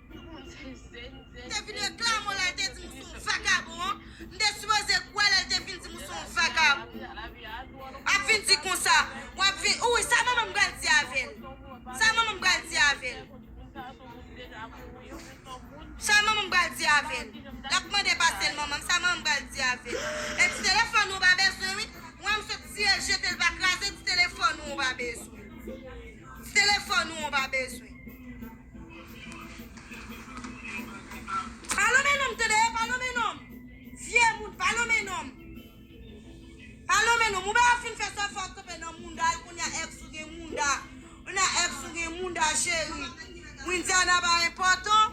M te vin reklame w lè l te di m w s on vakabon an. M te sipoze kwè lè l te vin di m w s on vakabon. Ap vin di konsa. W ap vin. Ou wi sa manman m pral di avè l. Sa manman m pral di avè l. Sa manman m pral di avè l. L ap mande pase l manman m. Sa manman m pral di avè l. E ti telefòn ou w pa bezwen wi. W wè m sot siye l jete l pa kraze ti telefòn ou w pa bezwen. Ti telefòn ou w pa bezwen. Pa lonmen non m tande e pa lonmen non m vye moun pa lonmen non m pa lonmen non m ou bay ap fin fè sa fò kanpe nan mounda l kounya ex ou gen mounda kounya ex ou gen mounda cheri Widiana pa enpòtan.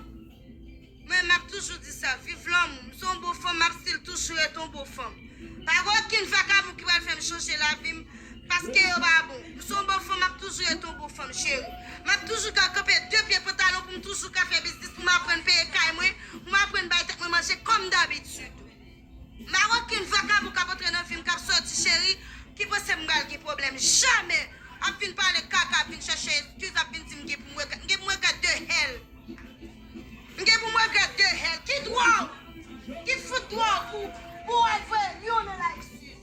Mwen map toujou di sa viv lanmou m se yon bon fanm map stil toujou ret yon bon fanm pa gen okenn vakabon ki pral fèm chanje lavi m paske yo pa bon m se yon bon fanm map toujou ret yon bon fanm cheri map toujou ka kanpe de pye pantalon pou m toujou ka fè biznis pou m aprann peye kay mwen pou m aprann bay tèt mwen manje kòm dabitid. Marokin vakabon kap antre nan vim kap soti cheri ki panse m pral gen pwoblèm jamè ap vin pale kaka ap vin chèche eskiz ap vin dim gen pou m regrèt m gen pou m regrèt de hell m gen pou m regrèt de hell ki dwa w ki fout dwa w pou pou w al voye lion nan la eskiz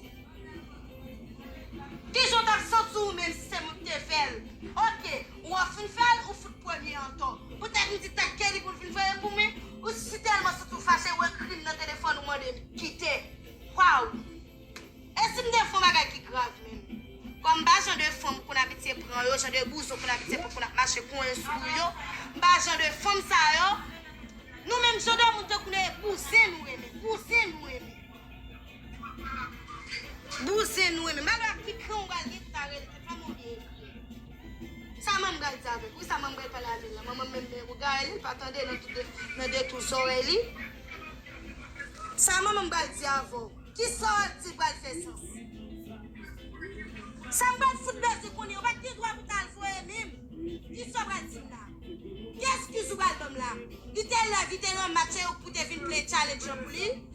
kijan w tap santi w menm si se mwen k te fè l ok. Ou ap fin fèl ou fout premye antò. Pou tèt ou di tèt Kelly poul vin veye pou mwen ou si tèlman santi w fache ou ekrim nan telefòn ou mandem kite waww e sim te fon bagay ki grav menm kòm m pa jan de fanm konn abitye pran yo jan de bouzen w konn abitye pran konn ap mache konyen sou ou yo m pa jan de fanm sa yo nou menm jan de moun tankou nou e bouzen nou renmen bouzen nou renmen bouzen nou renmen malè ak pikan ou bal gen kare l te fè m olye ekrim. Sa manman pral di avèk wi sa manman pral pale avèl la manman menm men rogare li pa tande nan tout nan de tou zorèy li sa manman pral di avèw kisa wap di pral fè sans sa m pral fout bèzou kounye ou pat gen dwa pou tal voye minm di sa w pral dim la ki eskiz ou pral banm la li te lève li te nan match e ou k pou te vin play challenge lan pou li.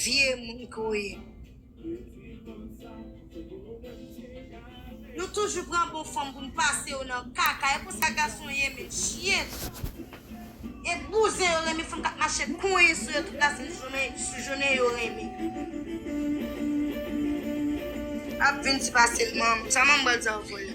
Vye moun ke w ye. Nou toujou pran bon fanm pou n pase yo nan kaka. E konsa gason ye men chyen. E bouzen yo renmen fanm kap mache konyen sou yo tout la sou jounen yo renmen. Ap vin ti pase l manm. Sa manm bal sa yo fè la.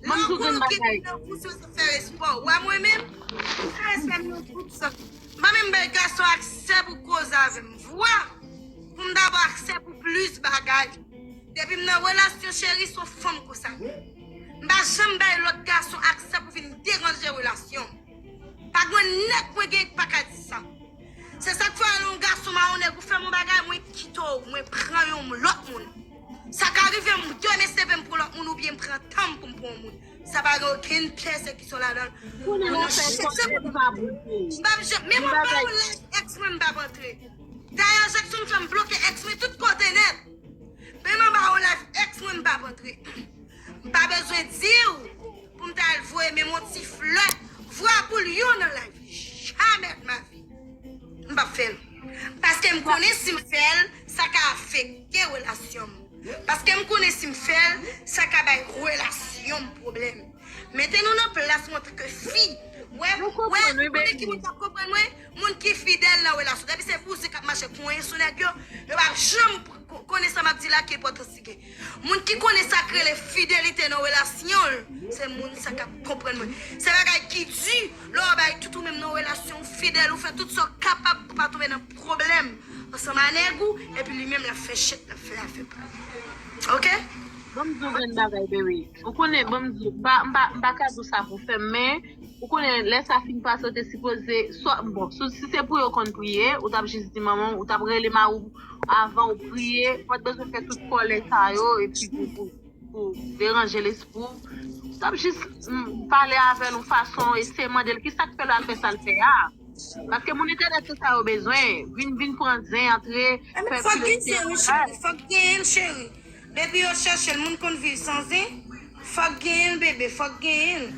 Mwen m tou gen bagay. Nan groupe ki moun nan fè espò. Wè mwen menm, m fè espò m nan groupe sa. M pa menm bay gason aksè pou koze avè m. Vwa pou m ta ba aksè pou plis bagay. Depi m nan relasyon cheri son fanm konsa. M pa janm bay lòt gason aksè pou vin deranje relasyon m. Pa gwen nèg mwen gen k pa ka di sa. Se sak fè lè yon gason mawonnen pou fè m yon bagay mwen kite w mwen pran yon lòt moun. Sa ka rive m donnen CV m pou lòt moun oubyen m pran tan m pou m pran yon moun. Sa pa gen okenn pèsekisyon ladan l. Pou nou nou fè sa se pou m pa bouke. Men mwen ba ou laj ex mwen m pa p antre. Dayè Jackson fè m bloke ex mwen tout kote nèt. Men mwen ba ou laj ex mwen m pa p antre. M pa bezwen di w pou m t al voye menm yon ti flè vwa pou l yon nan lavi. Jamè de ma vi! M p ap fè l. Paske m konnen si m fè l, sa ka afekte relasyon m. Paske m konnen si m fè l, sa ka bay relasyon m pwoblèm. Mete nou nan plas mwen antanke fi. Wè, wè, ou konnen ki moun k ap konprann mwen? Moun ki fidèl nan relasyon. Depi se bouzen k ap mache konyen sou nèg yo, yo p ap janm konnen sa m ap di la ki enpòtans. Moun ki konnen sak rele fidelite nan relasyonl se moun sa kap konprann mwen se bagay ki di lè wap bay tout ou menm nan relasyon ou fidèl ou fè tout sa ou kapab pou pa tonbe nan pwoblèm ansanm a nèg ou epi li menm lap fè chet lap fè afè pal ok. Banm diw grenn bagay bby ou konnen banm diw m paka diw sa pou fèm men ou konnen lè sa fin pase ou te sipoze bon si se pou yo konn priye ou tap jis di manmanw ou tap rele mariw avanw priye pat bezwen fè tout kòlè sa yo epi pou pou deranje lespri w tap jis pale avèl yon fason eseye mandel kisak fèl al fè sal fè a paske moun entènèt se sa yo bezwen vin vin pran zen antre fè pil espirasyon. Fòk genyenl cheri. Depi yo chèchel moun konn viv san zen fòk genyenl bebe fòk genyenl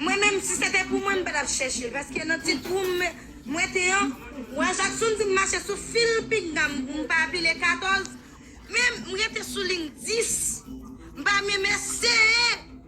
mwen menm si se te pou mwen m pa tap chèchel paske nan ti twou m wete an wa jakson di m mache sou fil pinga m pou m pa pile 14 men m rete sou ling 10 m pa menm eseye.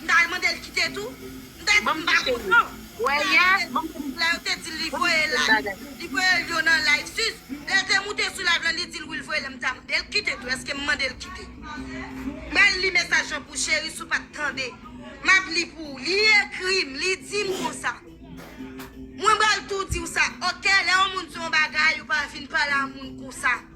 M ta al mande l kite tou. M ta di m pa kontan. M ta al mande l kite tou. Lè yo te di l li voye l la, li voye l yo nan live sis. Lè l te moute sou live la, li di l wi l voye l la. M ta mande l kite tou. Eske m mande l kite? M pral li mesaj lan pou w cheri si w pa t tande. M ap li pou w. Li ekri m, li di m konsa. Mwen pral tou di w sa. Ok, lè yon moun di w yon bagay, ou pa vin pale a moun konsa.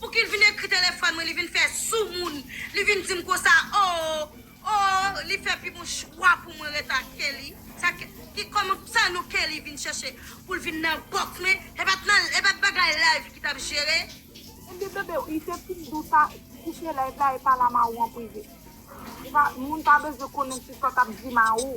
Poukil vin ekri telefòn mwen li vin fè soumoun li vin dim konsa ooh ooh li fè pi bon chwa pou mwen ret ak Kelly sa ki kòman sa non Kelly vin chèche poul vin nan box mwen e pat nan e pat bagay live ki tap jere. Kenbe bebe li se ti bdou sa koupe live la e pale a Maou an prive. Moun pa bezwen konnen se sa w tap di Maou.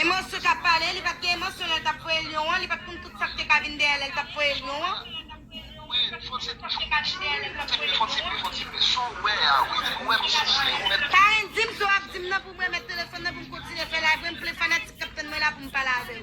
Emosyon kap pale, li pat gen emosyon lèl tap voye lyon an, li pat konn tout sak te ka vin dèyè lèl tap voye lyon an. Karen dim, so ap dim nan poum remet telefon nan poum kontinye fè live mwen, m plen fanatik kap tann mwen la poum pale avèw.